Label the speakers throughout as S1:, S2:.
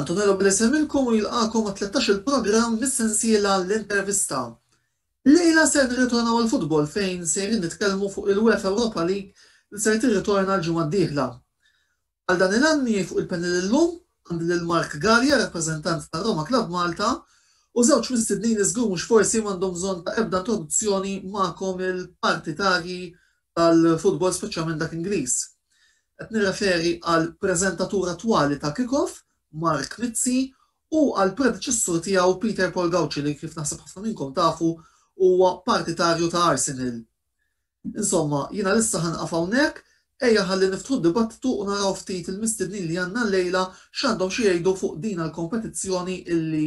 S1: Antonello Blese minnkom u jilqagħkom għat-tlettax-il programm mis-sensiela L-Intervista. Illejla ser nirritornaw għall-futbol fejn sejrin nitkellmu fuq il-UEFA Europa League li ser tirritorna l-ġimgħa d-dieħla. Għal dan il-għan miegħi fuq il-panel illum għandi lil Mark Galea, rappreżentant tar-Roma Club Malta, u żewġ mistednin li żgur mhux forsi m'għandhom bżonn ta' ebda introduzzjoni magħkom il-partitarji tal-futbol speċjalment dak Ingliż. Qed nirreferi għall-preżentatur attwali ta' Kickoff, Mark Mizzi, u għall-predeċessur tiegħu Peter Paul Gauci li kif naħseb ħafna minnkom tafu huwa partitarju ta' Arsenal. Insomma, jiena lissa ħa nieqaf hawnhekk, ejja ħalli niftħu d-dibattitu u naraw ftit il-mistednin li għandna llejla x'għandhom xi jgħidu fuq dina l-kompetizzjoni illi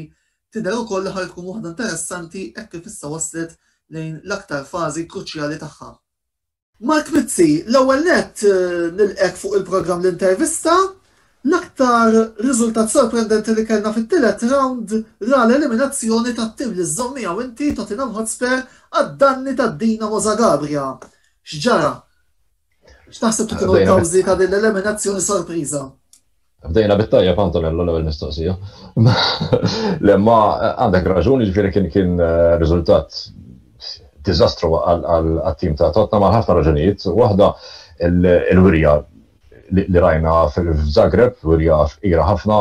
S1: tidher ukoll li ħa tkun waħda interessanti hekk kif issa waslet lejn l-aktar fażi kruċjali tagħha. Mark Mizzi, l-ewwel nett nilqgħek fuq il-programm L-Intervista. L-aktar riżultat sorprendenti li kellna fit-tielet rawnd ra l-eliminazzjoni tat-tim li żżomm miegħu inti, Tottenham Hotspur, għad-danni ta' Dinamo Zagabria. X'ġara? X'taħseb li kienu l-kawżi ta' din l-eliminazzjoni sorpriża? Bdejna
S2: bit-tajjeb Antonello l-ewwel mistoqsija. Le ma għandek raġun, jiġifieri kien kien eh, riżultat diżastru għal-tim ta' Tottenham għal ħafna raġunijiet. Waħda il-wirja li rajna f'Zagreb jurija fqira ħafna,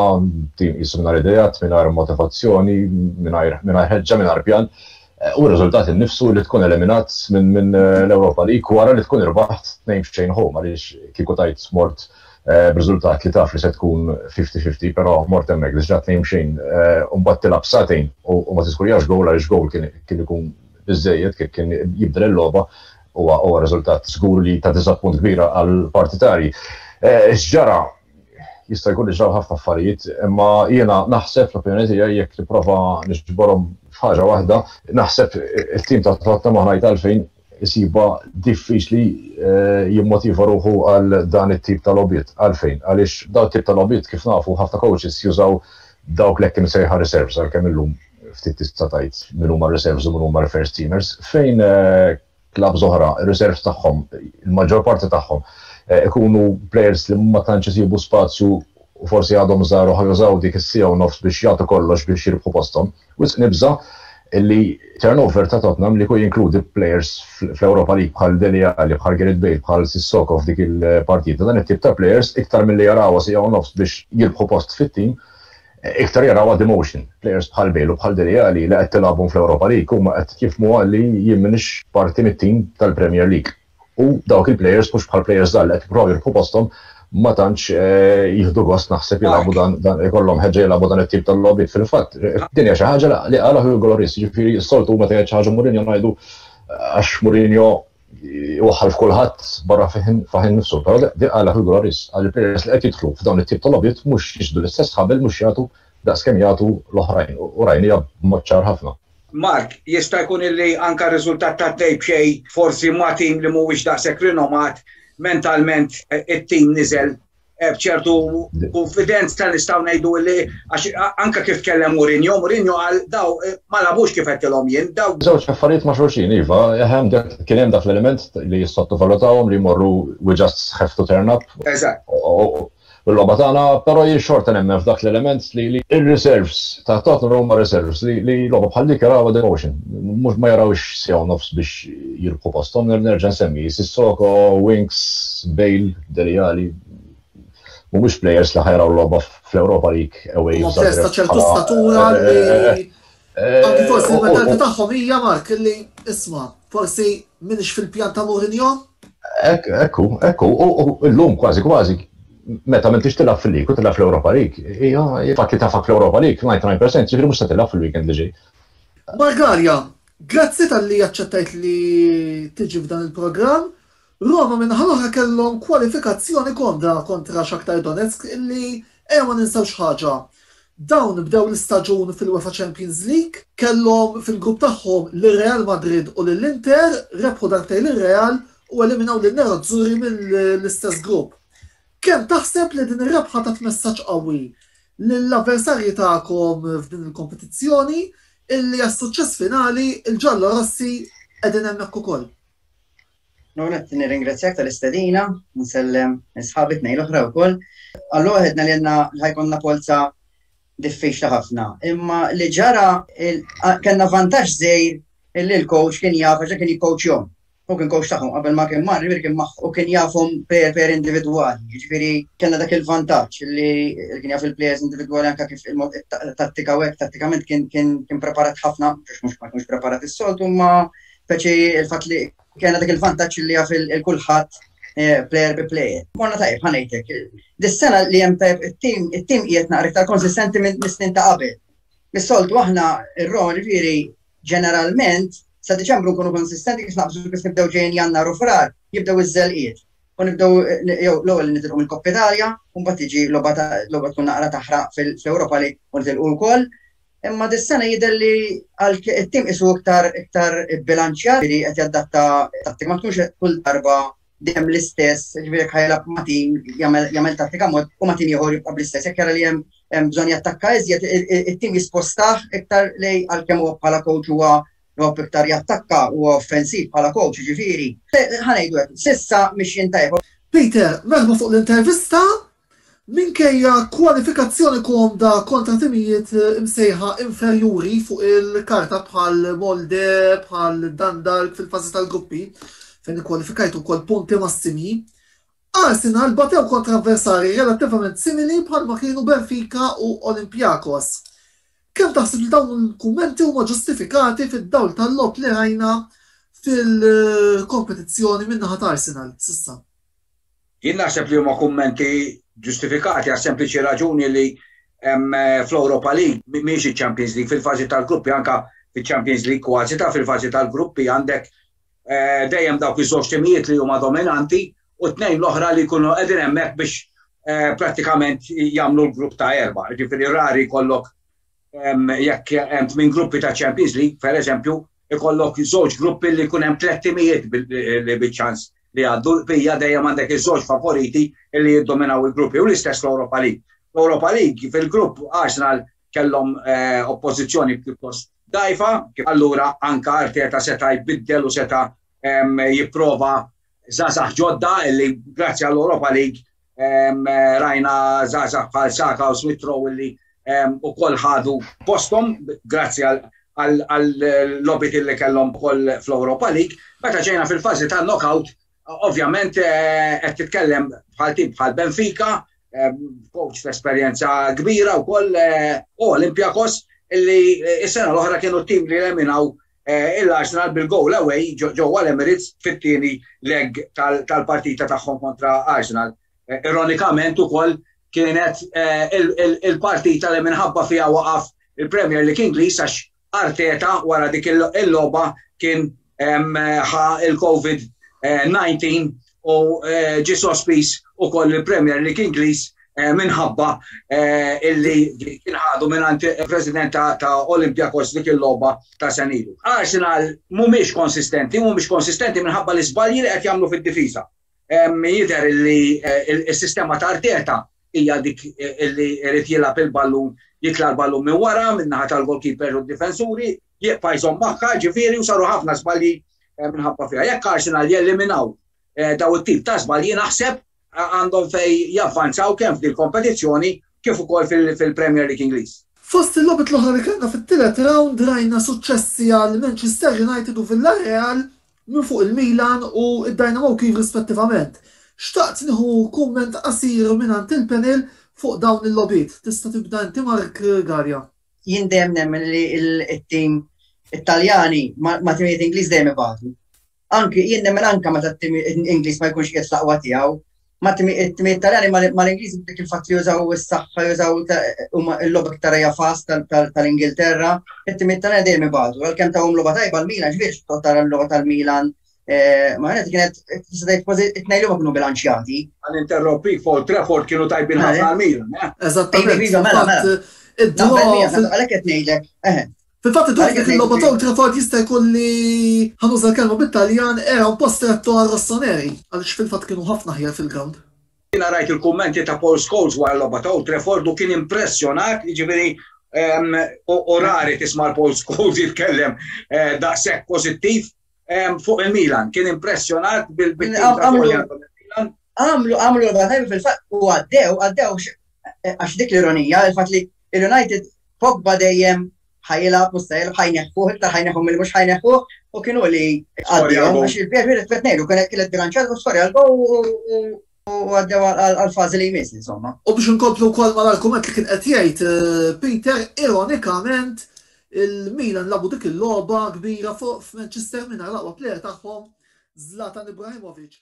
S2: tim qisu mingħajr ideat, mingħajr motivazzjoni, mingħajr ħeġġa, mingħajr pjan, u r-riżultat innifsu li tkun eliminat minn l-Ewropa League wara li tkun irbaħt tnejn f'xejn home għaliex kieku tgħid mort b'riżultat li taf li se tkun fifty fifty però mort hemmhekk diġà tnejn b'xejn u mbagħad tilgħab sagħtejn u ma tiskurjax gowl għaliex gowl kien ikun biżżejjed kien jibdel il-logħba huwa huwa riżultat żgur li ta' diżappunt kbira għal partitarji. Eh, x'ġara jista' jkun iġraw ħafna affarijiet, imma jiena naħseb l-opinjoni tiegħi jekk nipprova nixborhom f'ħaġa waħda, naħseb it-tim ta' totna maħna għalfejn isiba diffiċli eh, jimmotiva ruħu għal dan it-tip ta' lobbiet. Għalfejn, għaliex daw tip ta' lobbiet kif nafu ħafna coaches jużaw dawk l-ekkim sejħa reserves għal-kemm illum ftit tista' tgħid min huma reserves u min huma first teamers, fejn klab zoħra, reserves tagħhom, il-maġġor parti tagħhom, ikunu players li ma tantx isibu spazju u forsi għadhom żgħar u ħajużaw dik is-sija u nofs biex jagħtu kollox biex jirbħu posthom. Wisq nibża' li turnover ta' Tottenham li jkun jinkludi players fl-Europa League bħal Dele Alli, bħal Gareth Bale, bħal Sissoko f'dik il-partita, dan it-tip ta' players iktar milli jaraw sija u nofs biex jirbħu post fit-tim, Iktar jaraw għad emotion. Players bħal Bale u bħal Dele Alli li qed tilgħabhom fl-Europa League huma qed jifhmuha li jien m'iniex parti mit-tim tal-Premier League. U dawk il-players mhux bħal players żgħar li qed jippruvaw jirbħu posthom ma tantx jieħdu gost naħseb jilagħbu dan dan ikollhom ħeġġa jilagħbu dan it-tip tal-logħbiet. Fil-fatt, din hija xi ħaġa li qalha Hugo Lloris, jiġifieri s-soltu huma tgħid xi ħaġa Mourinho ngħidu għax Mourinho iwaħħal f'kulħadd barra faħin nifsu, però di għala fil-gura ris, għalli peress li qed jidħlu f'dawn it-tip ta' logħbiet mhux jixdu l-istess ħabel mhux jagħtu daqs kemm jagħtu l-oħrajn u rajnija b'mod ċar ħafna. Mark, jista'
S3: jkun illi anka r-riżultat ta' dej b'xejn forsi ma' tim li mhuwiex daqshekk rinomat mentalment eh, it-tim niżel eh, bċertu konfidenz ta' nistaw ngħidu li għax anka kif kellem Mourinho, Mourinho għal daw eh, ma labux kif qed tilhom jien, daw. Żewġ affarijiet ma' xulxin,
S2: iva, hemm kien hemm dak l-element li jissottovalutawhom li jmorru we just have to turn up. Eżatt.
S3: U l-logħba
S2: tagħna, però jien xorta nemmen f'dak l-element li ir-reserves ta' Tottenham huma reserves li logħba bħal dik jaraw devotion. Mhux ma jarawx sew nofs biex jirku posthom nerġa' nsemmi Sissoko, Winks, Bale, Dele Alli, mhumiex plejers li ħajraw logħba fl-Ewropa League away. Huma plejers ta' ċertu statura
S1: li anki forsi l-mentalità tagħhom hija Mark li isma' forsi minix fil-pjan ta' Mourinho. Ekku,
S2: ekku, u llum kważi kważi meta minn tix tilaf fil-lik u tilaf fl-Europa Lik, hija fatt li tafak fl-Europa Lik, 99% ġifiri mux se tilaf fil-weekend li ġej. Margarja,
S1: grazzi tal-li jaċċettajt li tiġi f'dan il-programm Roma min-naħa l-oħra kellhom kwalifikazzjoni komda kontra Shakhtar Donetsk illi ejja ma ninsewx ħaġa, dawn bdew l-istaġun fil-UEFA Champions League, kellhom fil-grupp tagħhom lil Real Madrid u lil Inter, rebħu darbtejn lil Real u eliminaw lin Nerazzurri mill-istess grupp. Kemm taħseb li din ir-rebħa tat messaġġ qawwi lill-avversarji tagħkom f'din il-kompetizzjoni illi għas-suċċess finali l-Ġallorossi qegħdin hemmhekk ukoll?
S4: Nonet nirringrazzjak tal-istedina, nsellem sħabi tnej l-oħra wkoll. Allura għedna li għandna ħajkonna polza diffiċli ħafna. Imma li ġara kellna vantaġġ żejr illi l-coach kien jaf għax kien jikkoċjhom. U kien coach tagħhom qabel ma kien mar, kien u kien jafhom per per individwali. Jiġifieri kellna dak il-vantaġġ li kien jaf il-plejers individwali anke kif il-mod tattika u hekk tattikament kien preparat ħafna, mhux ma kienx preparat is-soltu, imma Speċi il-fat li kena dak il-vantaċ li għaf il-kulħat eh, player bi player. Morna tajb, ħanajtek. Dis-sena li jem tajb il-tim, il-tim jiet naqra iktar konsistenti minn snin ta' qabel. Mis-soltu aħna ir-ron viri ġeneralment sa' Deċembru nkunu konsistenti kif naqbżu kif nibdew ġejn jannar u frar jibdew iż-żelqiet. U nibdew eh, jew l-ewwel nitilqu mill koppetalja Italja, u mbagħad tiġi logħba tkun naqra taħraq fil-Ewropa li u nitilqu wkoll. Imma dis-sena jidher li it-tim isu iktar iktar bilanċjat li qed jaddatta tattika ma tkunx kull darba dejjem l-istess, ġifieri ħajlab ma' tim jagħmel tattika mod u ma' tim ieħor jibqa' bl-istess. Jekk jara li hemm bżonn jattakka iżjed, it-tim jispostah iktar lej għalkemm huwa bħala coach huwa jgħobb iktar jattakka huwa offensiv bħala coach, ġifieri. Ħa ngħidu hekk, s'issa mixjin tajjeb. Peter, veħba
S1: fuq l-intervista Minkejja kwalifikazzjoni komda kontra timijiet imsejħa inferjuri fuq il-karta bħal Molde, bħal Dundalk fil-fażi tal-gruppi, fejn ikkwalifikajtu wkoll punti massimi, Arsenal batew kontra avversarji relattivament simili bħalma kienu Benfica u Olympiakos. Kemm taħseb li dawn il-kummenti huma ġustifikati fid-dawl tal-logħob li rajna fil-kompetizzjoni min-naħa ta' Arsenal s'issa? Jien
S3: naħseb li huma kummenti ġustifikati għas-sempliċi raġuni li fl-Europa League mhijiex iċ-Champions League fil-fażi tal-gruppi anke fiċ-Champions League kważi ta' fil-fażi tal-gruppi għandek eh, dejjem dawk iż-żewġ timijiet li huma dominanti u tnejn l-oħra li jkunu qegħdin hemmhekk biex eh, prattikament jagħmlu l-grupp ta' erba'. Ġifieri rari kollok jekk hemm minn gruppi ta' Champions League, pereżempju, Ikollok żewġ gruppi li jkun hemm tliet timijiet li biċ-ċans li jgħaddu, bija dejjem għandek iż-żewġ favoriti li jiddominaw il-gruppi u l-istess fl-Europa League. Fl-Europa League fil-grupp Arsenal kellhom eh, oppożizzjoni pjuttost dgħajfa, allura anka Arteta seta' jbiddel u seta' jipprova żgħażagħ ġodda li grazzi għall-Europa League Rajna żgħażagħ bħal Saka u Smith Rowe li ukoll ħadu posthom grazzi għall-lobit li kellhom ukoll fl-Europa League. Meta ġejna fil-fażi ta' knockout, ovvjament eh, qed titkellem bħal tim bħal Benfica, coach ta' esperjenza kbira wkoll eh, u Olympiakos illi eh, is-sena l-oħra kienu tim li leminaw l-Arsenal bil-goal away ġewwa l-Emirates fit-tieni leg tal-partita tagħhom kontra Arsenal. Ironikament ukoll kienet il-partita li minħabba fiha waqaf il-Premier League Ingliż għax Arteta wara dik il-logħba kien ħa il-COVID-19 u ġie sospiż ukoll il-Premier League Ingliż minħabba illi kien ħadu mingħand il-President ta' Olympiakos dik il-logħba ta' senilu. Arsenal mhumiex konsistenti, mhumiex konsistenti minħabba l-iżbalji li qed jagħmlu fid-difiża. Jidher illi s-sistema ta' Arteta hija dik eh, li rrit jilgħab il-ballun jitla l-ballun minn wara, minn naħa tal-goalkeeper u d-difensuri, jibqa' jżomm magħha, ġifieri u saru ħafna żbalji minħabba fiha. Jekk Arsenal jeliminaw daw it-tip ta' żbalji naħseb għandhom fej javvanzaw kemm f'dil kompetizzjoni kif ukoll fil-Premier League Ingliż. Fost il-logħbiet l-oħra
S1: li kellna fit-tielet rawnd rajna suċċessi għal Manchester United u Villarreal minn fuq il-Milan u d-Dynamo Kyiv rispettivament. Xtaqt nieħu kumment qasir mingħand il-panel fuq dawn il-logħbiet. Tista' tibda inti Mark Garja. jien dejjem
S4: nemmen li il-tim Italjani ma timijiet Ingliż dejjem ibatu. Anki jien nemmen anka meta t-tim Ingliż ma jkunx qiegħed laqwa tiegħu, ma timijiet Italjani mal-Ingliż dik il-fatt li jużaw is-saħħa jużaw huma l-logħba iktar hija fast tal-Ingilterra, it-timijiet Italjani dejjem ibatu. Għalkemm tawhom logħba tajba l-Milan, ġbiex tara l-logħba tal-Milan Eh, ma għanet kienet, t-sadajt kważi t-nejlu ma kienu bilanċjati. Għan interrompi, for
S3: Trefford kienu tajbin ħafna eh? għal-Milan. Eh? Eżattament. Iva, mela,
S1: mela.
S4: Għalek qed ngħidlek. Fil-fatt id-dwar
S1: dik il-logħba ta' Trefford jista' jkun li ħanuża kelma bit-Taljan era un po' stretto għal Rossoneri, għaliex fil-fatt kienu ħafna ħjar fil-ground. Jina rajt
S3: il-kummenti ta' Paul Scholes wara l-logħba ta' Trefford u kien impressjonat, jiġifieri u rari tisma' l-Paul Scholes jitkellem daqshekk pożittiv Fuq il-Milan, kien impressjonat bil-Milan. Għamlu, għamlu,
S4: għamlu, fil-fat, u għaddew, għaddew, eh, għax dik l-ironija, il-fat li il-United Pogba dejjem ħajla mustajl ħajneħuħ, iktar ħajneħuħ mill mux ħajneħuħ, u kienu li għaddew, għax il-bjerħu li t-tvetnejlu, kienet kienet bilanċat u skorja l-gow u għaddew għal-fazi li jmiss, insomma. U biex nkomplu kol ma
S1: l-argument li kien qed jgħid eh, Peter, ironikament, il-Milan labu dik il-logħba kbira fuq f'Manchester minn laqwa plejer tagħhom Zlatan Ibrahimovic.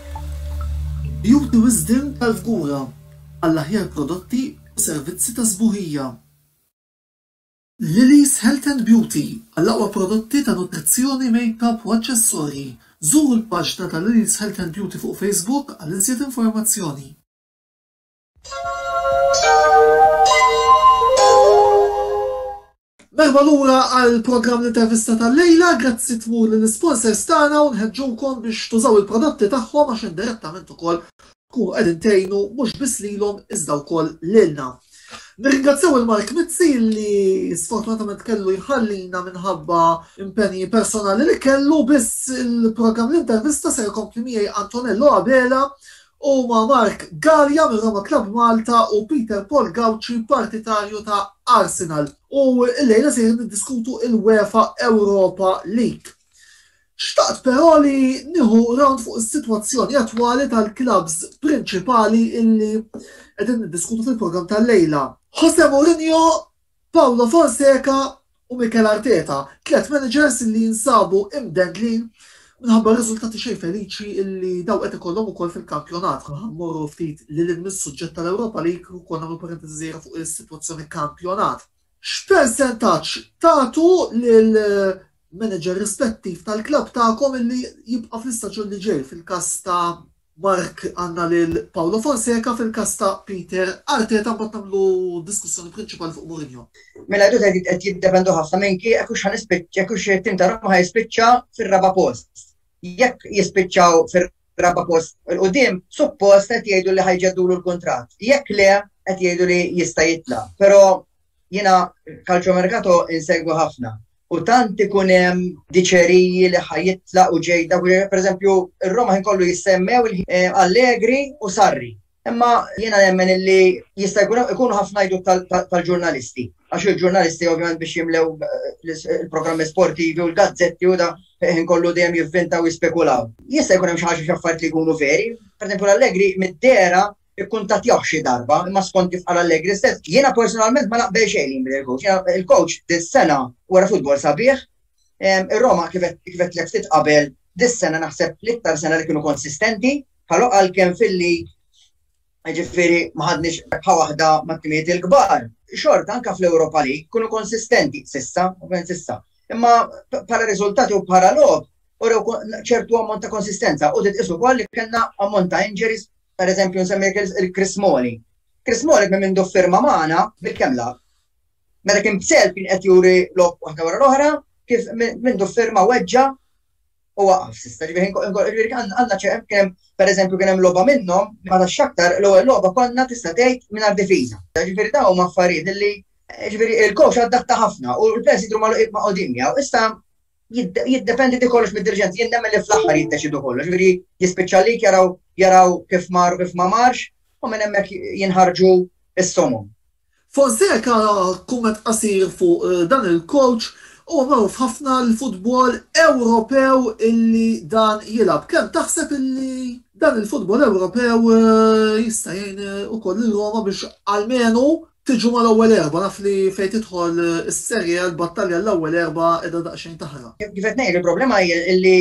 S1: Juri wisdien tal-fgura għall-aħjar prodotti u servizzi ta' sbuħija. Lily's Health and Beauty għall-aqwa prodotti ta' nutrizzjoni, makeup u aċċessorji. Żuru l-paġna ta' Lily's Health and Beauty fuq Facebook għal iżjed informazzjoni. Merħba lura għal programm l-intervista tal-lejla, grazzi tmur l sponsors tagħna u nħeġġukom biex tużaw il-prodotti tagħhom għax indirettament ukoll tkunu qegħdin tgħinu mhux biss lilhom iżda wkoll lilna. Nirringrazzjaw il-Mark Mizzi li sfortunatament kellu jħallina minħabba impenji personali li kellu biss il-programm l-intervista se jkompli miegħi Antonello Abela Huma Mark Galea minn Roma Club Malta u Peter Paul Gauci partitarju ta' Arsenal u llejla sejrin niddiskutu il-UEFA Europa League. Xtaqt però li nieħu round fuq is-sitwazzjoni attwali tal-clubs prinċipali illi qegħdin niddiskutu fil-programm tal-lejla. Jose Mourinho Paulo Fonseca u Mikel Arteta, tliet managers li jinsabu imdendlin minħabba r-riżultati xejn feliċi li dawn qed ikollhom ukoll fil-kampjonat. Ħa mmorru ftit lil hinn mis-suġġett tal-Europa League u konna nagħmlu parentesi żgħira fuq is-sitwazzjoni kampjonat. X'persentaġġ tagħtu lil manager rispettiv tal-klabb tagħkom illi jibqa' fl-istaġun li ġej. Fil-każ ta' Mark għandna lil Paulo Fonseca, fil-każ ta' Peter Arteta mbagħad nagħmlu diskussjoni prinċipali fuq Mourinho. Mela jdu qed qed
S4: jiddependu ħafna minn ki jekk hux ħanispiċċ jekk hux it-tim ta' Roma ħajspiċċa fir-raba' post. Jekk jispiċċaw fir-raba' post il quddiem, suppost qed jgħidu li ħajġeddulu l-kuntratt. Jekk le qed jgħidu li jista' jitla'. Però Jiena kalċomerkato insegwu ħafna u tant ikun hemm diċeriji li ħajitla u ġejda, per eżempju, ir-Roma ħin kollu jissemmew eh, Allegri u Sarri. Imma jiena nemmen li jista' jkunu ħafna jdu tal-ġurnalisti. Għax il-ġurnalisti ovvjament biex jimlew eh, il-programmi sportivi u l-gazzetti u da eh, ħin kollu dejjem jivvintaw jispekulaw. Jista' jkun hemm xi ħaġa x'affarijiet li jkunu veri. Per eżempju l-Allegri mid-dera ikkuntattjawh xi darba, imma skont kif qal Allegri stess, jiena personalment ma naqbel xejn li jinbidel il-coach. Jiena il-coach dis-sena wera futbol sabiħ, ir-Roma kif kif għedtlek ftit qabel dis-sena naħseb l-iktar sena li kienu konsistenti, bħal għalkemm fil-lig jiġifieri ma ħadniex rebħa waħda mat-timijiet il-kbar, xorta anke fl-Europa League kienu konsistenti s'issa, ovvjament s'issa. Imma bħala riżultati u bħala logħob urew ċertu ammont ta' konsistenza u trid tqis ukoll li kellna ammont ta' injuries Per eżempju, nsemmi il-Chris Moli. Chris Moli minn mindu firma maħna bil-kemla. Meta kien b'self kien qed juri lok waħda wara l-oħra, kif mindu firma weġġa u waqaf sista. Ġifieri għandna ċehem kien per eżempju kien hemm logħba minnhom ma ta' xaktar l-ewwel logħba konna tista' tgħid mingħajr difiża. Ġifieri dawn ma affarijiet li ġifieri il-coach adatta ħafna u l-players jidru ma' qudimja. Issa jiddependi di kollox mid-dirġenti, jien nemmen li fl-aħħar jiddeċidu kollox, veri jispiċċa li jaraw jaraw kif mar u kif ma marx, u minn hemmhekk jinħarġu s-somum. Fonseca
S1: kumment qasir fuq eh, dan il-coach u magħruf ħafna l-futbol Ewropew illi dan jilab. Kemm taħseb illi dan il-futbol Ewropew eh, jista' jgħin eh, ukoll il-Roma biex almenu Tiġu mal-ewwel erbgħa, naf li fejn tidħol is-Serie A l-battalja l-ewwel erbgħa qiegħda daqsxejn taħraq. Kif qed ngħid, il-problema
S4: hi li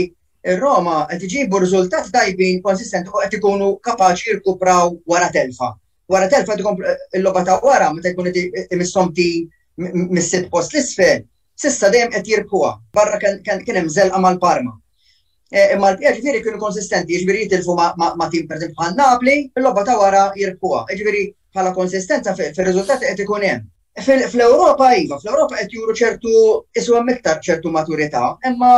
S4: r-Roma qed iġibu riżultati tajbin konsistenti u qed ikunu kapaċi jirkupraw wara telfa. Wara telfa qed ikomplu il-logħba ta' wara meta jkun qed imisshom tim mis-sitt post l-isfel, s'issa dejjem qed jirbħuha. Barra kien hemm żelqa mal-Parma. Imma l-bqija ġifieri kienu konsistenti, jiġifieri jitilfu ma' tim pereżempju bħal Napli, il-logħba ta' wara jirbħuha. Jiġifieri bħala konsistenza fir-riżultati qed ikun hemm. Fl-Ewropa iva, fl-Ewropa qed juru ċertu iswa miktar ċertu maturità, imma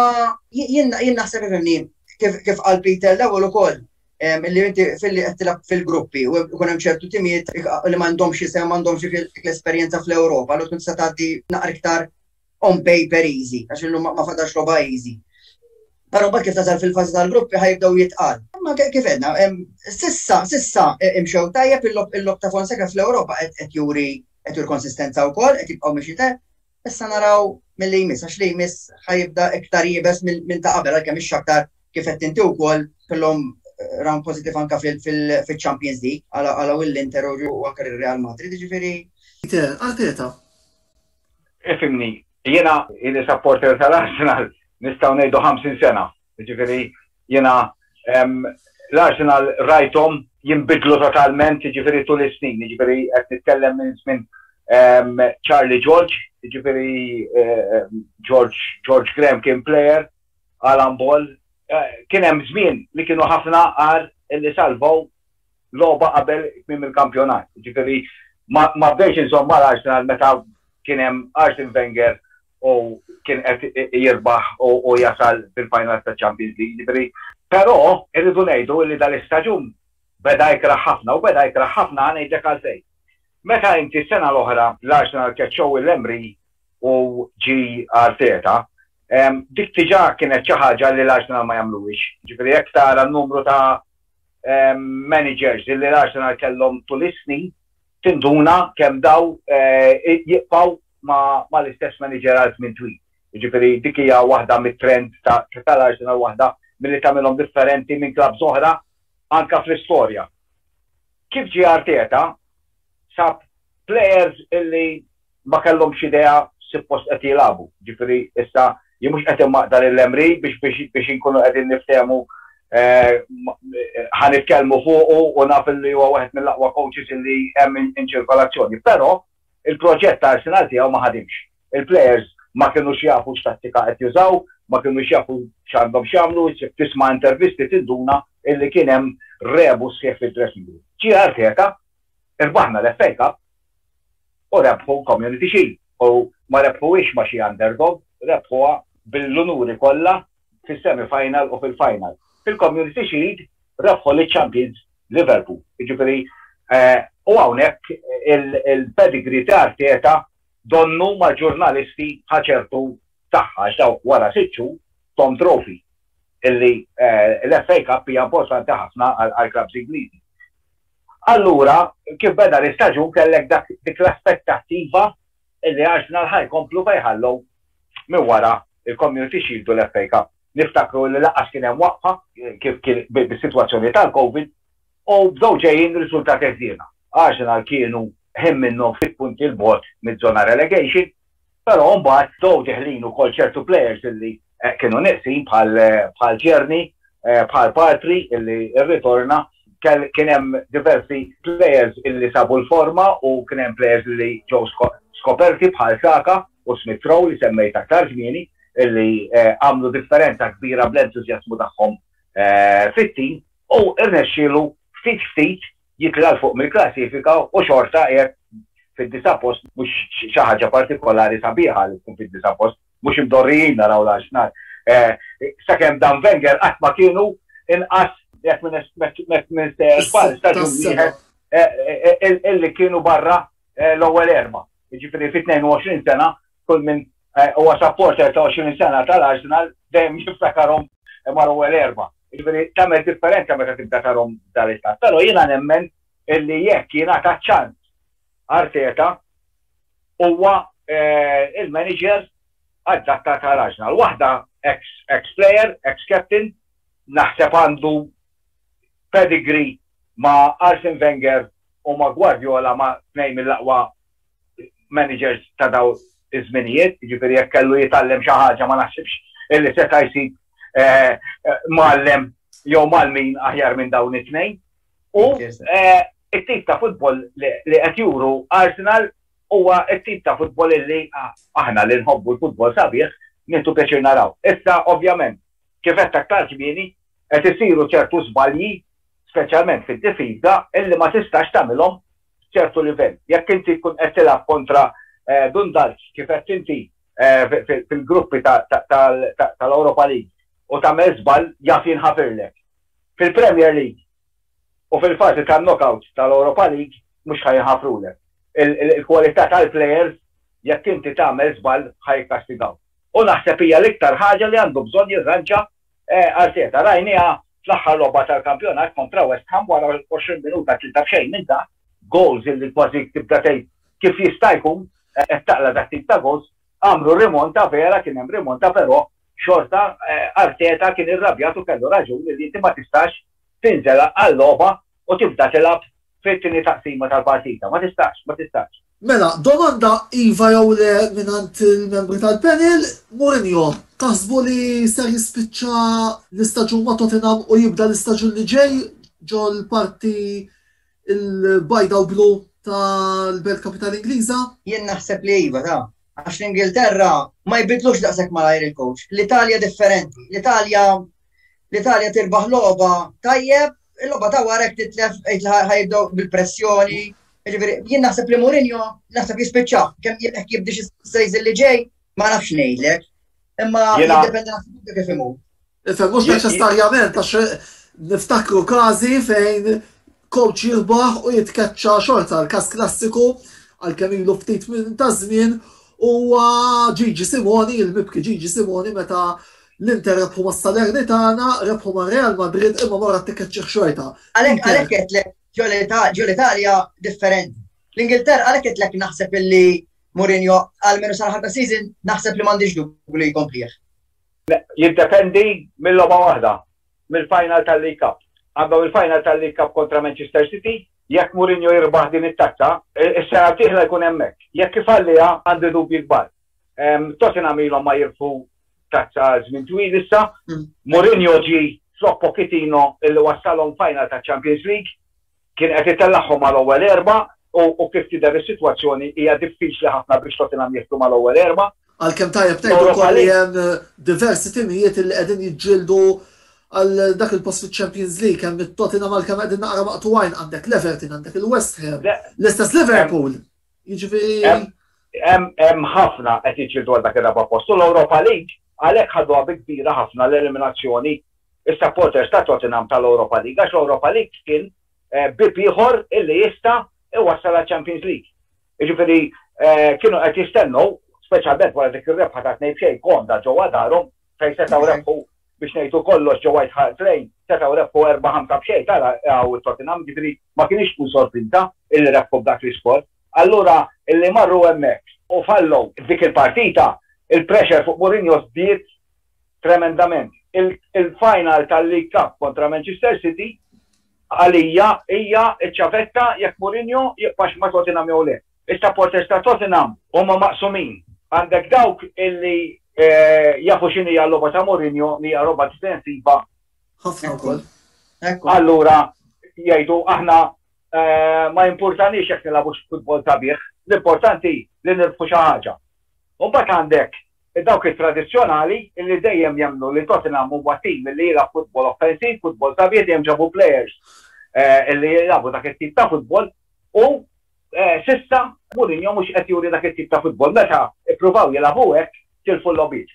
S4: jien naħseb ifimni kif qal Peter l-ewwel ukoll li inti fil-li qed tilab fil-gruppi u jkun hemm ċertu timijiet li m'għandhomx isem m'għandhomx l-esperjenza fl-Ewropa, l tkun se tgħaddi naqra iktar on paper easy, għax illum ma fadax logħba easy. Però mbagħad kif tasal fil-fażi tal-gruppi ħajbdew jitqal. Imma kif edna, sissa, sissa e, imxew tajjeb il-lob ta' Fonseca fl-Ewropa qed juri qed juri konsistenza wkoll, qed jibqgħu mixi tajjeb. Issa naraw mill-li jmiss, għax li jmiss ħajibda iktar jibes minn ta' qabel, għalkemm ix aktar kif qed inti wkoll kellhom eh, round positif anka fil-Champions League għala u l-Inter u anka Real Madrid, ġifieri. Arteta,
S3: Ifimni, jiena ili supporter tal-Arsenal nistgħu ngħidu 50 sena. Jiġifieri jiena l-Arsenal rajthom jinbidlu totalment jiġifieri tul is-snin, jiġifieri qed nitkellem minn żmien Charlie George, jiġifieri George Graham kien plejer, Alan Ball, kien hemm żmien li kienu ħafna għar li salvaw logħba qabel tmiem il-kampjonat. Ġifieri ma bdejx inżomm mal Arsenal meta kien hemm Arsene Wenger u kien qed jirbaħ u jasal fil-finals ta' Champions League. Ġifieri, però irridu ngħidu li dal-istaġun beda jikraħ ħafna u beda jikraħ ħafna ħa ngħidlek għalfejn. Meta inti s-sena l-oħra l-Arsenal keċċew lil Emery u ġie Arteta, dik diġà kienet xi ħaġa li l-Arsenal ma jagħmluhiex. Ġifieri jekk tara n-numru ta' ehm, managers li l-Arsenal kellhom tul is-snin tinduna kemm daw eh, jibqgħu ma l-istess manager għal żmien twil. Ġifieri dik hija waħda mit-trend tal-Arsenal waħda milli tagħmilhom differenti minn klabb oħra anka fl-istorja. Kif ġie Arteta sab players illi ma kellhomx idea x'suppost qed jilagħbu. Ġifieri issa jien mhux qed immaqta' lil Emery biex biex biex inkunu qegħdin niftehmu ħa nitkellmu fuqu u naf li huwa wieħed mill-aqwa coaches li hemm inċirkolazzjoni. Però il-proġett ta' Arsenal tiegħu ma ħadimx. Il-players ma kinux jafu x'tattika qed jużaw, ma kinux jafu x'għandhom x'jagħmlu, issib tisma' intervisti tinduna illi kien hemm rebus sħiħ fid-dressing room. Ġie Arteta Irbaħna l-FA Cup u rebħu l-Community Shield u ma rebħuhiex ma' xi underdog, rebħuha bil-unuri kollha fis-semi final u fil-final. Fil-Community Shield rebħu liċ-champions Liverpool. Jiġifieri u hawnhekk il-pedigree ta' Arteta donnu mal-ġurnalisti ħa ċertu saħħa għax daw wara sitt xhur tom trophy illi l-FA Cup hija importanti ħafna għall-klabbs Ingliżi. Allura, kif beda l-istaġun kellek dak dik l-aspettattiva illi Arsenal ħa jkomplu fejn ħallew minn wara il-Community Shield u l-FA Cup. Niftakru illi lanqas kien hemm waqfa kif kien bis-sitwazzjoni tal-Covid u bdew ġejjin riżultati ħżiena. Arsenal kienu ħin minnhom ftit punti 'l bogħod miż-żona relegation Però mbagħad ġew deħlin ukoll ċertu players illi kienu nieqsin bħal Tierney, bħal Partey illi rritorna, kien hemm diversi players illi sabu l-forma u kien hemm players illi ġew skoperti bħal Saka u Smith Rowe li semmejt aktar kmieni illi għamlu differenza kbira bl-entużjażmu tagħhom fit-tim u rnexxielu ftit ftit jitla' 'l fuq mill-klassifika u xorta qiegħed fid-disa' post mhux xi ħaġa partikolari sabiħa li tkun fid-disa' post, mhux imdorrijin naraw l-Arsenal. Sakemm dan Wenger qatt ma kienu inqas jekk minn żball staġun wieħed illi kienu barra l-ewwel erbgħa. Jiġifieri fi 22 sena kull minn eh, huwa supporter ta' 20 sena tal-Arsenal dejjem jiftakarhom mar ewwel erba. Jiġifieri tagħmel differenza meta tibda tarhom dal-istat. Però jiena nemmen illi jekk jiena ta' ċans Arteta huwa eh, il-manager għaddatta tal-Arsenal. Waħda ex-player, ex-captain, naħseb għandu pedigree ma' Arsene Wenger u ma' Guardiola ma' tnejn mill-aqwa managers ta' daw iż-żminijiet, jiġifieri jekk kellu jitgħallem xi ħaġa ma naħsibx illi seta' jsib eh, mgħallem jew malmin aħjar minn dawn it-tnejn. U eh, it-tip ta' futbol li qed juru Arsenal huwa it-tip ta' futbol illi aħna li nħobbu l-futbol sabiħ nintu pjaċir naraw. Issa ovvjament kif qed aktar kmieni qed isiru ċertu żbalji speċjalment fid-difiża illi ma tistax tagħmilhom f'ċertu livell. Jekk inti tkun qed tilgħab kontra Dundalk kif qed inti fil-gruppi tal-Europa League u tagħmel żball jaf jinħafirlek. Fil-Premier League u fil-fażi tan-knockout tal-Europa League mhux ħa jinħafrulek. Il-kwalità tal-plejers jekk inti tagħmel żball ħa jikkastigawk. U naħseb hija l-iktar ħaġa li għandu bżonn jirranġa Arteta, rajnieha fl-aħħar logħba tal-kampjonat kontra West Ham wara 20 minuta tlita b'xejn minn ta' gowls illi kważi tibda tgħid kif jista' jkun qed taqla' dak tip ta' gowls. Għamlu rimonta vera kien hemm rimonta però xorta Arteta kien irrabjat u kellu raġun illi inti ma tistax tinżel għal logħba u tibda tilgħab fit-tieni taqsima tal-partita. Ma tistax, ma tistax. Mela, domanda
S1: iva jew le mingħand il-membri tal-panel, Mourinho taħsbu li ser jispiċċa l-istaġun ma' Tottenham u jibda l-istaġun li ġej ġol-parti l-bajda u blu tal-Belt Kapitali Ingliża? Jien naħseb li
S4: iva, ta. Għax l-Ingilterra ma jbiddlux daqshekk malajr il-coach. L-Italja differenti. L-Italja L-Italja tirbaħ logħba tajjeb, il-logħba ta' wara jekk titlef qed ħajibdew bil-pressjoni. Jiġifieri, jien naħseb li Mourinho naħseb jispiċċa kemm jekk jibdix is-sejż li ġej ma nafx ngħidlek. Imma jiddependi naħseb kif imur. Ifhem mhux
S1: neċessarjament għax niftakru każi fejn Coach jirbaħ u jitkeċċa xorta l-każ klassiku għalkemm ilu ftit minn ta' żmien huwa Gigi Simoni, il-mibki Gigi Simoni meta l-Inter rebħu ma' Salernitana, rebħu ma' Real Madrid imma mara t-tikeċċieħ xorta. Għalhekk għalhekk qedlek
S4: ġol Italja differenti. L-Ingilterra għalhekk qedlek naħseb illi Mourinho għal menu sar ħabba season naħseb li m'għandix dubju li jkomplih. Jiddependi
S3: mill-logħba waħda. mill-final tal-League Cup. Għandhom il-final tal-League Cup kontra Manchester City, jekk Mourinho jirbaħ din it-tazza, is-sena d-dieħla jkun hemmhekk. Jekk ifalliha għandi dubji kbar. Tottenham ilhom ma jirfu tazza għal żmien twil issa, Mourinho ġie flok Pochettino illi wassalhom final taċ-Champions League, Kien qed itellagħhom mal-ewwel erbgħa u kif tidher is-sitwazzjoni hija diffiċli ħafna biex Tottenham jidħlu mal-ewwel erbgħa. Għalkemm tajjeb tgħid
S1: ukoll li hemm diversi timijiet illi qegħdin jiġġieldu għal dak il-post fiċ-Champions League, hemm it-Tottenham għalkemm qegħdin naqra maqtugħin, għandek l-Everton, għandek il-West Ham, l-istess Liverpool. Jiġifieri
S3: hemm ħafna qed jiġġieldu għal dak ir-raba' post u l-Europa League għalhekk ħaduha bi kbira ħafna l-eliminazzjoni is-supporters ta' Tottenham tal-Europa League għax l-Europa League kien bieb ieħor illi jista' iwassal għaċ-Champions League. Jiġifieri kienu qed jistennew, speċjalment wara dik ir-rebħa ta' tnejn b'xejn komda ġewwa darhom, fejn setgħu rebħu biex ngħidu kollox ġo White Hart Lane setgħu rebħu erba' ħamsa b'xejn tara hawn it-Tottenham jiġifieri ma kinitx tkun sorpriża illi rebħu b'dak l-iskor. Allura illi marru hemmhekk u fallow f'dik il-partita il-pressure fuq Mourinho żdied tremendament. Il-final tal-League Cup kontra Manchester City għalija hija ċ-ċavetta jekk Mourinho jibqax ma' Tottenham jew le. Is-supporters ta' Tottenham huma maqsumin. Għandek dawk illi jafu x'inhi hija l-logħba ta' Mourinho li hija logħba difensiva. Ħafna wkoll.
S1: Allura
S3: jgħidu aħna ma jimpurtaniex jekk nilagħbux futbol sabiħ, l-importanti li nirbħu xi ħaġa. U mbagħad għandek dawk it-tradizzjonali illi dejjem jemmnu li Tottenham huwa tim illi jilgħab futbol offensiv, futbol sabiħ, dejjem ġabu plejers illi jilagħbu dak it-tip ta' futbol u S'issa, Mourinho mhux qed juri dak it-tip ta' futbol. Meta ippruvaw jilagħbu hekk, tilfu l-logħbiet.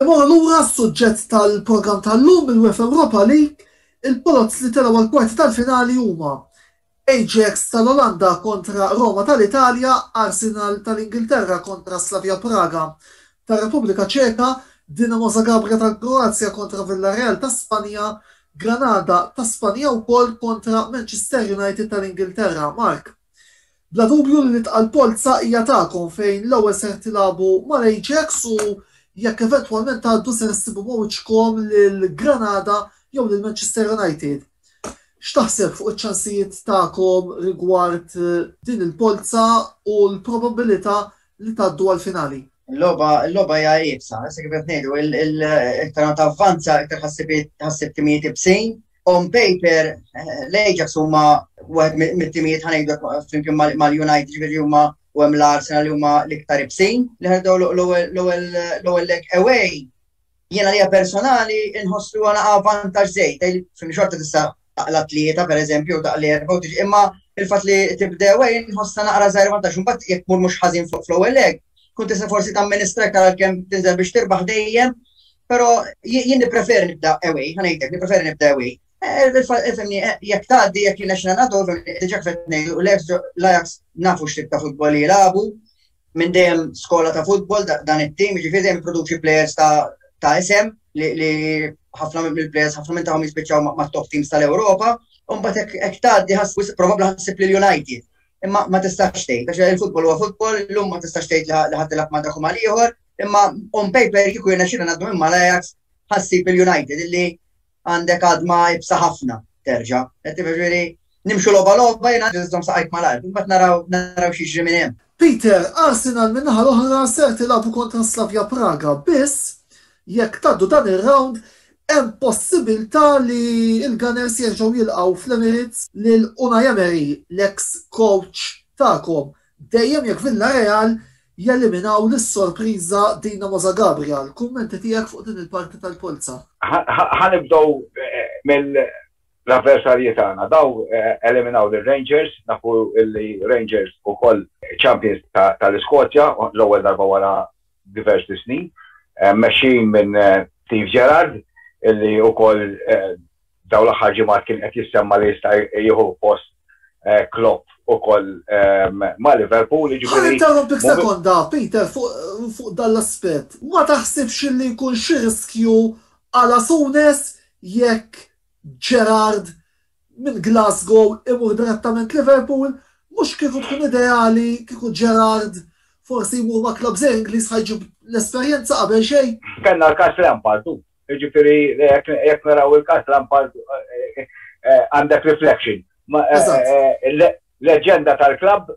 S3: Immorru lura
S1: għas-suġġett tal-programm tal-lum mill-UEFA Europa League, il-poloz li telgħu għall-kwarti tal-finali huma, Ajax tal-Olanda kontra Roma tal-Italja, Arsenal tal-Ingilterra kontra Slavia Praga, tar-Repubblika Ċeka, Dinamo Zagabria tal-Kroazja kontra Villarreal ta' Spanja, Granada ta' Spanja wkoll kontra Manchester United tal-Ingilterra. Mark, Bla dubju li l-itqal polza hija tagħkom fejn l-ewwel ser tilagħbu mal-Ajax u jekk eventwalment tgħaddu ser issibu ma' wiċċkom lil Granada jew lil Manchester United. X'taħseb fuq iċ-ċansijiet tagħkom rigward din il-polza u l-probabbilità li tgħaddu għall-finali. Il-logħba il-logħba
S4: hija iebsa, se kif qed ngħidu, iktar ma tavvanza, iktar ħassib timijiet ibsin. On paper, l-Ajax huma wieħed mit-timijiet ħanejdu flimkien mal-United ġifieri huma u hemm l-Arsenal li huma l-iktar ibsin li ħedew l-ewwel lek away Jien għalija personali nħoss li għana vantaġġ żejt, fil xorta tista' taqla tlieta pereżempju taqla erba' u tiġi imma il-fatt li tibdew ej nħossna naqra żgħir vantaġġ imbagħad jekk mur mhux ħażin fuq fl-ewwel leg, kun tista' forsi tamministra iktar għalkemm tinżel biex tirbaħ dejjem, però jien nippreferi nibda ewej, ħanejtek, nippreferi nibda ewej. Eh, Femni, eh, jek taddi, jek jina xina nadu, diġa kfet nejdu, l-Ajax nafu xtib ta' futbol jilabu, Minn dejjem skola ta' futbol dan it-tim, jiġifieri dejjem produċi plejers ta' isem li ħafna mill-plejers ħafna minn tagħhom jispiċċaw ma' top teams tal-Ewropa, u mbagħad hekk tgħaddi ħass probabbli ħassib lil United. Imma ma tistax tgħid, għax il-futbol huwa futbol, llum ma tistax tgħid li ħadd ilgħab ma' dak mal-ieħor, imma on paper kieku jiena xina ngħaddu minn mal-Ajax ħassib il-United illi Għandek għadma ibsa ħafna terġa'. Qed tifhem jiġifieri nimxu logħba logħba jiena biss żomm saqajk malajr, imbagħad naraw naraw x'jiġri minn hemm. Peter, Arsenal
S1: min-naħa l-oħra ser tilagħbu kontra Slavia Praga, biss jekk tgħaddu dan ir-rawnd hemm possibilità li l-Gunners jerġgħu jilqgħu fl-Emirates lil Unai Emery, l-eks kowċ tagħkom Dejjem jekk Villareal jeliminaw lis-sorpriża Dinamo Zagabria. Kummenti tiegħek fuq din il-parti tal-polza? Ħa nibdew
S5: mill-avversarji tagħna. Daw eliminaw lir-Rangers, nafu li Rangers ukoll champions tal-Iskozja l-ewwel darba wara diversi snin, mmexxijin minn Steve Gerrard li wkoll Dawn l-aħħar ġimgħat kien qed jissemma li jista' jieħu post Klopp ukoll ma' Liverpool. Ħalli interromp dik
S1: sekonda, Peter, fuq dan l-aspett. Ma taħsibx li jkun xi riskju għal Asunes jekk Gerrard minn Glasgow imur direttament Liverpool? Mhux kieku tkun ideali kieku Gerrard forsi jmur ma' klabb żgħir Ingliż ħa jġib l-esperjenza qabel xejn? Kellna l-każ Lampard,
S5: hu. Ġifiri, jek naraw il-kas Lampard eh, eh, għandek reflection. Eh, leġenda tal-klab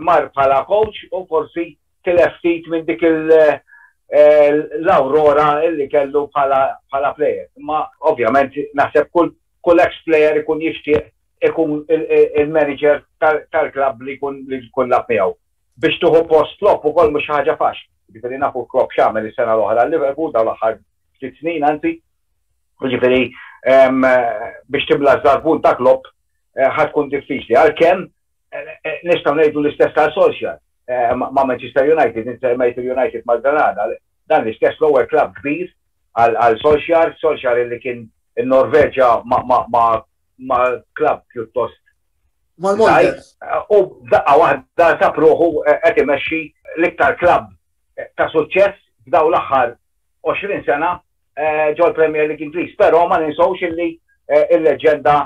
S5: mar bħala coach u forsi tileftit minn dik il- l-aurora illi kellu bħala player. Ma ovvjament naħseb kull ex player ikun jixtieq ikun il-manager tal-klab li kun li kun lab miegħu. Biex tieħu post Klopp ukoll mhux xi ħaġa faċli. Jiġifieri nafu Klopp x'għamel is-sena l-oħra għal Liverpool, dawn l-aħħar ftit snin anzi. Jiġifieri biex timla ż-żarbun ta' Klopp ħa tkun diffiċli. Għalkemm nistgħu ngħidu l-istess għal Solskjaer ma' Manchester United, inti semmejt il-United mal-Granada, dan l-istess l-ewwel klabb kbir għal Solskjaer, Solskjaer li kien in-Norveġja ma ma' klabb pjuttost żgħir u f'daqqa waħda sab ruħu qed imexxi l-iktar klabb ta' suċċess f'dawn l-aħħar 20 sena ġol-Premier League Ingliż. Però ma ninsewx illi l-leġġenda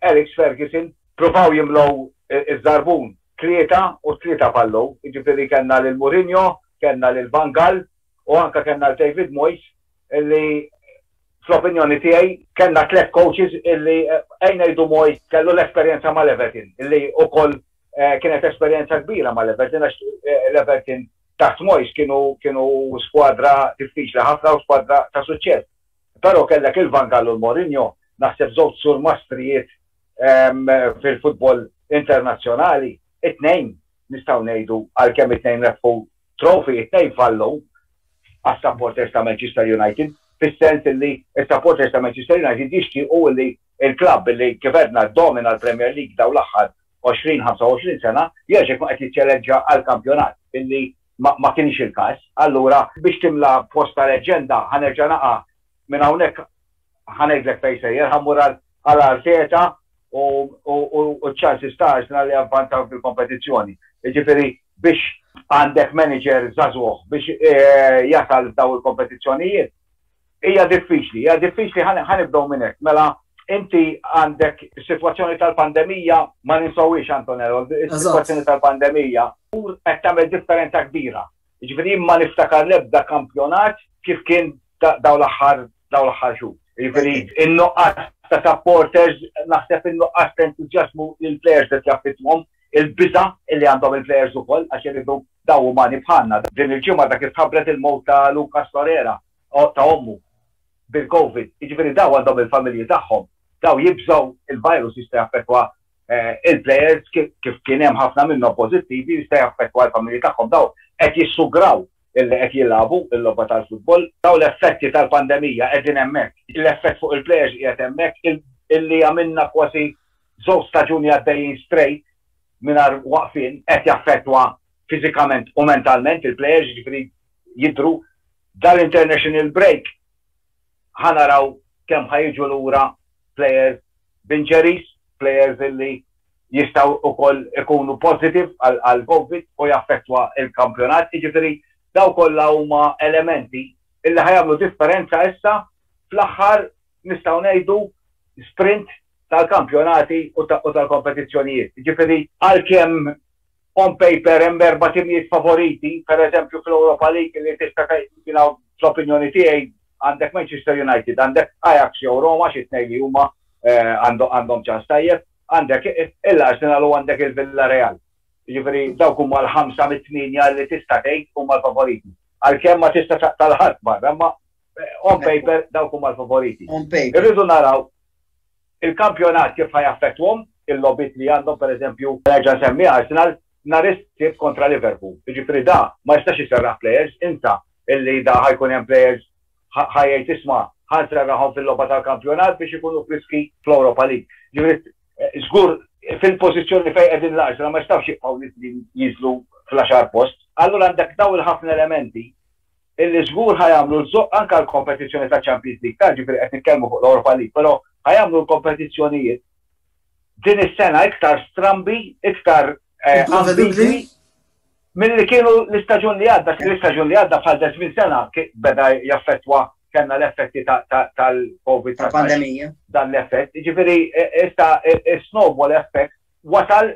S5: Alex Ferguson pruvaw jimlew iż-żarbun tlieta u tlieta fallow, jiġifieri kellna lil Mourinho, kellna lil Van Gaal, u anke kellna l-David Moyes illi fl-opinjoni tiegħi kellna tliet coaches illi għin ngħidu Moyes kellu l-esperjenza mal-Everton illi ukoll kienet esperjenza kbira mal-Everton għax l-Everton taħt Moyes kienu kienu skwadra diffiċli ħafna u skwadra ta' suċċess. Però kellek il-Van Gaal u l-Mourinho naħseb żewġ surmastrijiet fil-futbol internazzjonali, it-tnejn nistgħu ngħidu għalkemm it-tnejn rebħu Trophy it-tnejn fallu għas-supporters ta' Manchester United fis-sens illi s-supporters ta' Manchester United jixtiequ illi l-klabb illi kif għedna ddomina l-Premier League dawn l-aħħar 20, 25 sena jerġa' jkun qed jiċċeleġġa għall-kampjonat illi ma kienx il-każ. Allura biex timla post ta' leġġenda ħa nerġa' naqa' minn hawnhekk ħanejdlek fejn sejjer, ħammur għal Arteta u ċ-ċansi stars li għavvantaw fil-kompetizzjoni. Ġifiri, biex għandek manager zazuħ biex eh, jasal daw il-kompetizzjonijiet, hija diffiċli, hija diffiċli ħanibdow minnek. Mela, inti għandek situazzjoni tal-pandemija ma ninsawix Antonello, situazzjoni tal-pandemija u qed tagħmel differenza kbira. Jiġifieri jien ma niftakar l-ebda kampjonat kif kien dawn l-aħħar dawn l-aħħar xhur. Jiġifieri in-nuqqas ta' supporters naħseb in-nuqqas ta' entużjażmu li l-plejers qed jaffettwhom, il-biża' li għandhom il-plejers ukoll għax iridu dawn umani bħalna. Din il-ġimgħa ta' kif tħabbret il-mewt ta' Lucas Torreira, ta' ommu, bil-Covid. Jiġifieri dawn għandhom il-familji tagħhom, dawn jibżgħu l-virus jista' jaffettwa eh, il-plejers kif kien hemm ħafna minnhom pożittivi jista' jaffettwa l-familji tagħhom daw qed jissugraw illi qed jilagħbu l-logħba tal-futbol, daw l-effetti tal-pandemija qegħdin hemmhekk, l-effett fuq il-plejers qiegħed hemmhekk illi għamilna kważi żewġ staġuni għaddejjin straight mingħajr waqfin qed jaffettwa fiżikament u mentalment il-plejers jiġifieri jidru dal-international break ħa naraw kemm ħa jiġu lura players b'injuries, players illi jistgħu ukoll ikunu positive għall-Covid u jaffettwa l-kampjonat. Jiġifieri dawn kollha huma elementi illi ħa jagħmlu differenza issa fl-aħħar nistgħu ngħidu sprint tal-kampjonati u tal-kompetizzjonijiet. Jiġifieri għalkemm On paper hemm erba' timijiet favoriti, pereżempju fl-Europa League li tista' jiena fl-opinjoni tiegħi għandek Manchester United, għandek Ajax jew Roma xi tnejn li huma għandhom ċans tajjeb, għandek il-Arsenal u għandek il-Villareal. Jiġifieri dawk huma l-ħamsa mit-tmienja li tista' tgħid huma l-favoriti. Għalkemm ma tista' taqta' 'l ħadd barra imma on paper dawk huma l-favoriti. Irridu naraw. Il-kampjonat kif ħa jaffettwahom, il-logħbiet li għandhom pereżempju, nerġa' nsemmi Arsenal nhar is-Sibt kontra Liverpool, jiġifieri da ma jistax iserraħ players, insa illi da ħa jkun hemm players ħa jgħid isma' ħa nserraħhom fil-logħba tal-kampjonat biex ikunu friski fl-Europa League. Jiġifieri żgur fil-pożizzjoni fejn qegħdin l-Arsenal ma jistgħux jibqgħu li jinżlu fl-għaxar post. Allura għandek dawn il-ħafna elementi. illi żgur ħa jagħmlu l-zoqqa anke għall-kompetizzjoni taċ-Champions League tard, jiġifieri qed nitkellmu fuq l-Europa League, però ħa jagħmlu l-kompetizzjonijiet din is-sena iktar strambi, iktar ambigwi milli kienu l-istaġun li għadda. L-istaġun li għadda bħal ta' żmien sena beda jaffettwa kellna l-effetti tal-COVID. Tal-pandemija.
S4: Dan l-effett.
S5: Jiġifieri issa is-snowball effect wasal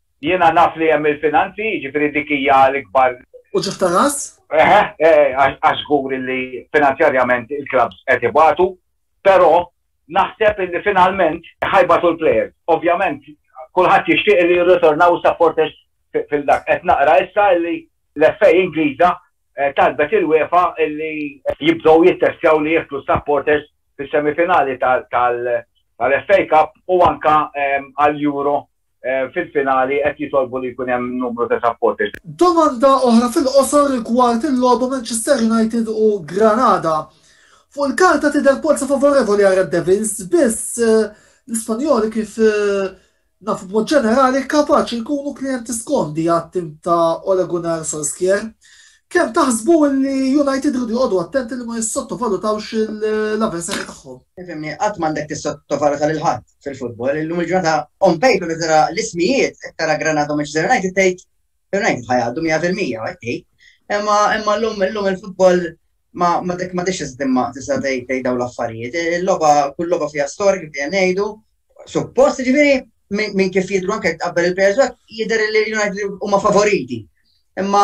S4: Jiena
S5: naf li hemm il-finanzi, jiġifieri dik hija l-ikbar. Uċuħ ta' ras?
S1: Eħe,
S5: għax żgur li finanzjarjament il-klabbs qed ibatu, però naħseb li finalment ħa jbatu l-plejers. Ovvjament kulħadd jixtieq li jirritornaw is-supporters fil-dak. Qed naqra issa li l-FA Ingliża talbet il-UEFA li jibdew jittestjaw li jidħlu s-supporters fis-semifinali tal-FA Cup u anke għall-Euro fil-finali qed jitolbu li jkun hemm numru ta' supporters. Domanda oħra
S1: fil-qosor rigward il-logħba Manchester United u Granada. Fuq il-karta tidher polza favorevoli għar-Red Devils, biss l-Ispanjoli kif nafu b'mod ġenerali kapaċi jkunu klijenti skomdi għat-tim ta' Ole Gunnar Solskjaer. Kemm taħsbu li United iridu joqogħdu attenti li ma jissottovalutawx l-avversarji tagħhom? Fehimni, qatt m'għandek
S4: tissottovaluta lil ħadd fil-futbol. Illum il-ġurnata on paper meta tara l-ismijiet, qed tara Granada u Manchester United tgħid United ħajgħaddu 100% qed tgħid. Imma imma llum illum il-futbol ma ma dik ma tixx iżdimma tista' tgħid dawn l-affarijiet. Il-logħba kull logħba fiha storika fiha ngħidu suppost ġifieri minn kif jidru anke qabel il-players back, jidher li United huma favoriti. Imma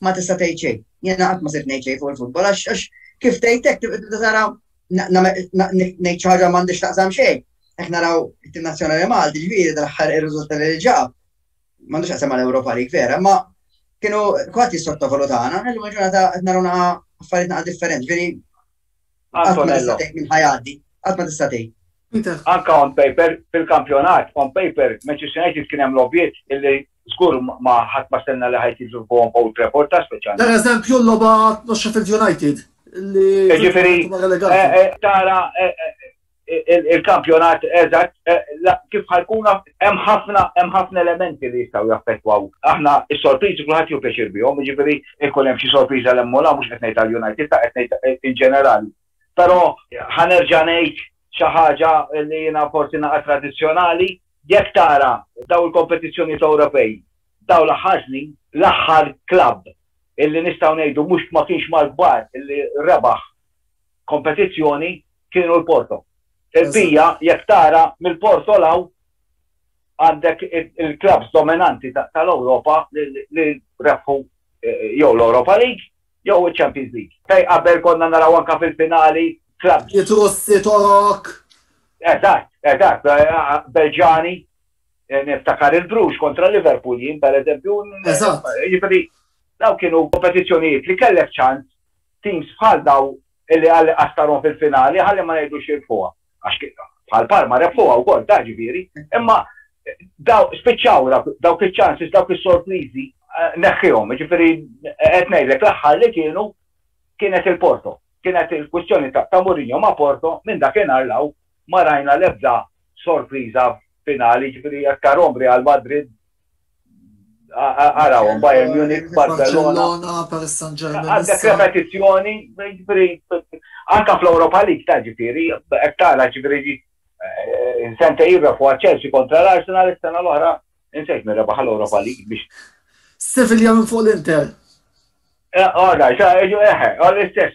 S4: ma tista' tgħid xejn. Jiena qatt ma sirt ngħid xejn fuq il-futbol għax kif tgħid hekk tibda tara ngħid xi ħaġa m'għandix taqsam xejn. Hekk naraw it-tim nazzjonali Malti ġifieri dal-aħħar ir-riżultat li ġab. M'għandux taqsam mal-Ewropa li vera, ma kienu kwatt jissottovalutana, illum ġurnata qed naraw affarijiet naqa' differenti. Ġifieri Antonello. Għad ma tista' tgħid. Anka on
S5: paper, fil-kampjonat, on paper, Manchester United kien hemm lobbiet illi żgur ma ħadd ma stenna li ħajt jiġu fuqhom Old Trafford ta' speċjal. Per eżempju l-logħba
S1: Sheffield United
S5: li.
S1: Ġifieri eh, eh,
S5: tara
S1: eh,
S5: il-kampjonat eżatt eh, kif ħajkuna hemm ħafna hemm ħafna elementi li jistgħu jaffettwaw. Aħna s-sorpriżi kulħadd jew pjaċir bihom, jiġifieri ikun hemm xi sorpriża l mola mhux qed ngħid għall-United ta' qed ngħid eh, in ġenerali. Però ħanerġa' ngħid xi ħaġa li jiena forsi naqa' tradizzjonali, jekk tara daw il-kompetizzjoni ta' Ewropej, daw l-ħażni l-aħħar klabb illi nistgħu ngħidu mhux ma kienx mal-kbar illi rebaħ kompetizzjoni kienu l-Porto. Il-bija jekk tara mill-Porto 'l hawn għandek il-klabbs dominanti tal-Ewropa li rebħu jew l-Europa League jew iċ-Champions League. Fejn qabel konna naraw anke fil-finali klabbs. It-Russi, Torok.
S1: Eżatt,
S5: eżatt. Belġani. Niftakar il-Bruges kontra Liverpool jien pereżempju. Eżatt. Jiġifieri dawn kienu kompetizzjonijiet li kellek ċans Teams bħal dawn illi Alli qastarhom fil-finali ħalli ma ngħidux jirbħuha. Għax bħal Parma rebħuha wkoll ta' ġifieri. Imma dawn spiċċaw dawk iċ-ċansis, dawk is-sorpriżi neħħihom. Ġifieri qed ngħidlek l-aħħar li kienu kienet il-Porto. Kienet il-kwistjoni ta' Mourinho ma' Porto minn dakinhar law ma rajna l-ebda sorpriża finali ġifieri jekk tarhom Real Madrid Araw, Bayern Munich, Barcelona. Paris Saint Germain.
S1: Għandek repetizzjoni,
S5: anka fl-Europa League ta' ġifiri, tara ġifiri sente jirra fuq Chelsea kontra l-Arsenal, is-sena l-oħra, insejt minn rebaħ l-Europa League biex. Sevilla minn
S1: fuq l-Inter. Għada, eħe,
S5: għal-istess,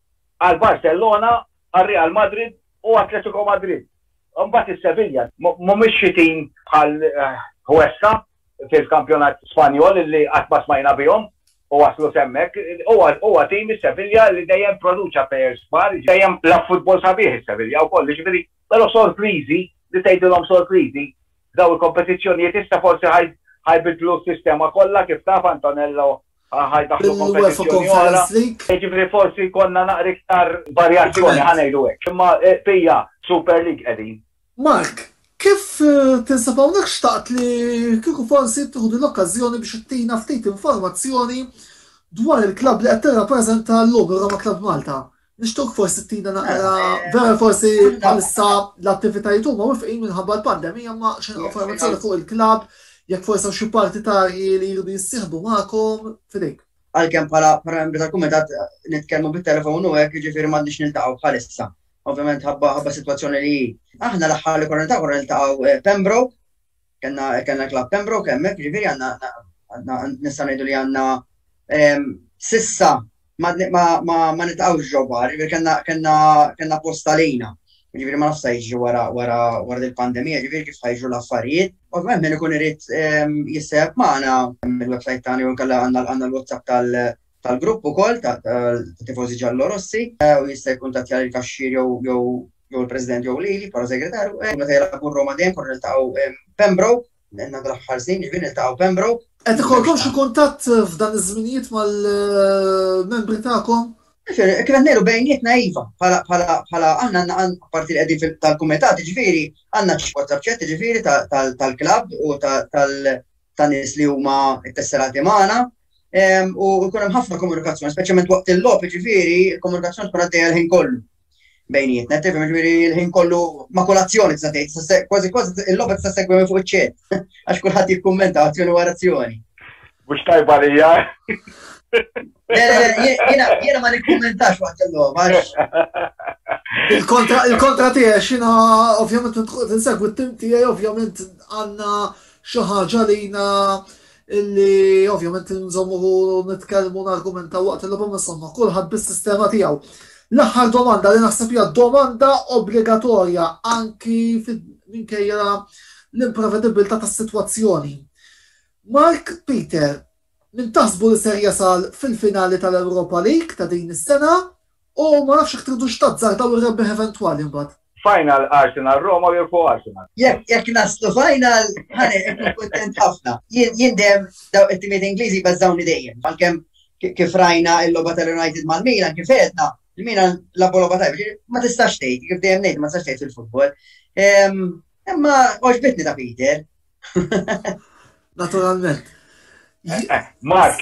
S5: għal Barcellona, għal Real Madrid u Atletico Madrid. Imbagħad is-Sevilla mhumiex xi tim bħal Huesca fil-kampjonat Spanjol li qatt ma smajna bihom u waslu s'hemmhekk. Huwa huwa tim is-Sevilla li dejjem produċa players kbar, dejjem lagħab futbol sabiħ is-Sevilla wkoll, jiġifieri però sorpriżi li tgħidilhom sorpriżi f'dawn il-kompetizzjonijiet issa forsi ħajbiddlu s-sistema kollha kif taf Antonello bil-UEFA Conference League. Jiġifieri forsi jkollna naqra iktar varjazzjoni, ħa ngħidu hekk. Imma fija Super League qegħdin. Mark,
S1: kif tinsab hawnhekk xtaqt li kieku forsi tieħu din l-okkażjoni biex ittina ftit informazzjoni dwar il-klabb li qed tirrappreżenta llum, ir-Roma Club Malta. Nishtuq forsi tina naqra, vera forsi bħalissa l-attivitajiet huma wifqin minħabba l-pandemija ma xi informazzjoni fuq il-klab jekk forsi xi partitarji li jridu jissieħbu magħkom fidejk. Għalkemm bħala
S4: membri tal-kumitat nitkellmu bit-telefon u hekk jiġifieri m'għandniex niltaqgħu bħalissa. Ovvjament ħabba ħabba sitwazzjoni li aħna l-aħħar li konna niltaqgħu konna niltaqgħu eh, Pembroke Kenna kenna l-Club Pembroke hemmhekk, ġifieri għandna għandna- nista' ngħidu li għandna em, sissa ma ma ma ma nitqgħux ġo bar, ġifieri kenna kenna kenna post għalina. Ġifieri ma nafx sa jiġri wara wara wara il-pandemija, ġifieri kif ħajġru l-affarijiet. Ovvjament min ikun irid em, jissejħeb magħna mill-website tagħna jew inkella għandna għandna l-WhatsApp tal tal-grupp ukoll ta' tifożi ġallorossi u jista' jkuntattja lil kaxxier jew jew il-President jew lili bħala segretarju u meta jilagħbu r-Roma dejjem konna niltaqgħu Pembroke għandna dal-aħħar snin jiġifieri niltaqgħu Pembroke. Qed ikollkom xi
S1: kuntatt f'dan iż-żminijiet mal-membri tagħkom? Kif qed ngħidu
S4: bejnietna iva, bħala aħna apparti li qegħdin fil-kumitat jiġifieri għandna WhatsApp chat jiġifieri tal-klabb u tan-nies li huma ttesserati magħna. u jkun hemm ħafna komunikazzjoni, speċjalment waqt il-logħob, ġifieri il-komunikazzjoni tkun għaddejja l-ħin kollu. Bejnietna, tifhem ġifieri l-ħin kollu ma' kolazzjoni tista' tgħid, kważi kważi il-logħob tista' segwi minn fuq iċ-ċet, għax kulħadd jikkummenta azzjoni wara azzjoni. Mhux tajba
S5: li hija.
S4: Jiena ma nikkummentax waqt il-logħob għax.
S1: Il-kontra tiegħi xina ovvjament tinsegwi t-tim tiegħi ovvjament għandna xi ħaġa lina illi ovvjament inżommu nitkellmu nargumentaw waqt il-logħba ma somma kulħadd bis-sistema tiegħu. L-aħħar domanda li naħseb hija domanda obbligatorja anki minkejja l-imprevedibbiltà tas-sitwazzjoni. Mark Peter, min taħsbu li ser jasal fil-finali tal-Europa League ta' din is-sena U ma nafx jekk tridux tazzardaw ir-rebbieħ eventwali mbagħad. Final
S5: Arsenal Roma u jirbħu Arsenal. Jekk jekk naslu
S4: final, ħa nkun kuntent ħafna. Jien dejjem daw it-timiet Ingliżi jbeżżgħuni dejjem. Għalkemm kif rajna l-logħba tal-United mal-Milan kif għedna, il-Milan labu logħba tajba. Ma tistax tgħid, kif dejjem ngħid ma tistax tgħid fil-futbol. Ehm, imma oġbitni ta' Peter.
S1: Naturalment. Eh, eh,
S5: Mark,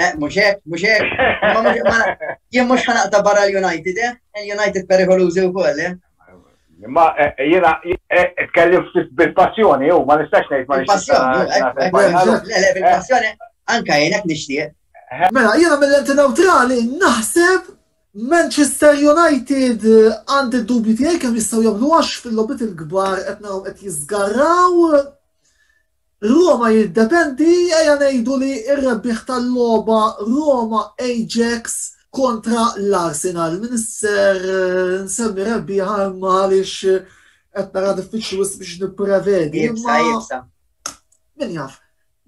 S4: Eh, muxek, muxek, jien mux ħanaqta barra l-United, eh? Il-United perikolużi u koll, eh? Ma
S5: eh, eh, jena, eh, tkellim bil-passjoni, u ma nistax nejt ma nistax.
S4: Bil-passjoni, anka jenek nishtiq. Mela, jena
S1: mill-enti neutrali, naħseb Manchester United għandi dubju tiegħi kemm jistgħu jagħmlu għax fil-lobit il-kbar qed naraw qed jiżgarraw Roma jiddependi ejja ngħidu li r-rebbieħ tal-logħba Roma Ajax kontra l-Arsenal. M'iniex ser nsemmi rebbieħa imma għaliex qed nara diffiċli wisq biex nipprevedi. Ibsa, ibsa.
S4: Min
S1: jaf?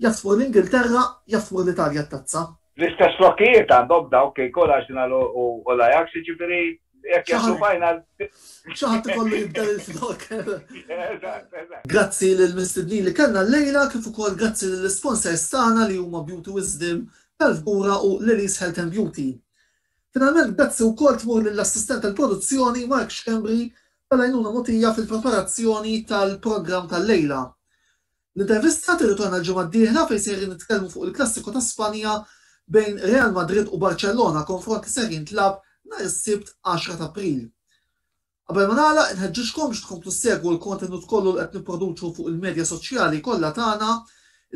S1: Jaf tmur l-Ingilterra, jaf tmur l-Italja t-tazza. L-istess flokkijiet
S5: għandhom dawk ikun Arsenal u l-Ajax, jiġifieri jekk jaslu final. Xi ħadd
S1: ikollu jibdel il-flokk. Eżatt, eżatt. Grazzi lill-mistednin li kellna llejla kif ukoll grazzi lill-isponsers tagħna li huma Beauty Wisdom, Belfgura u Lily's Health and Beauty. Finalment grazzi wkoll tmur lill-assistent tal-produzzjoni Mark Schembri tal-għajnuna mogħtija fil-preparazzjoni tal-programm tal-lejla. L-intervista tirritorna l-ġimgħa d-dieħla fejn sejrin nitkellmu fuq il-klassiku ta' Spanja bejn Real Madrid u Barcellona, konfront li ser jintlagħab nhar is-Sibt 10 t'April. Qabel ma nagħlaq, inħeġġiġkom biex tkomplu ssegwu l-kontenut kollu li qed nipproduċu fuq il-medja soċjali kollha tagħna,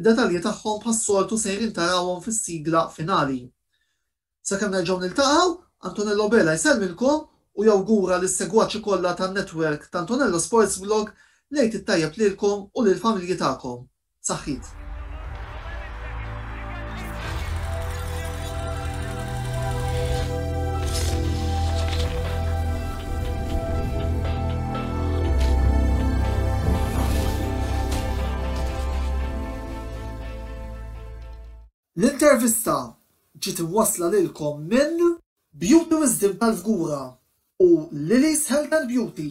S1: id-detalji tagħhom bħas-soltu sejrin tarawhom fis-sigla finali. Sakemm nerġgħu niltaqgħu, Antonello Bela jsellmilkom u jawgura lis-segwaċi kollha tan-network ta' Antonello Sports Blog l-Għid it-Tajjeb lilkom u lill-familji tagħkom. Saħħit. L-intervista ġiet imwassla lilkom minn. Beauty Wisdom tal-Fgura u Lili's Health and Beauty.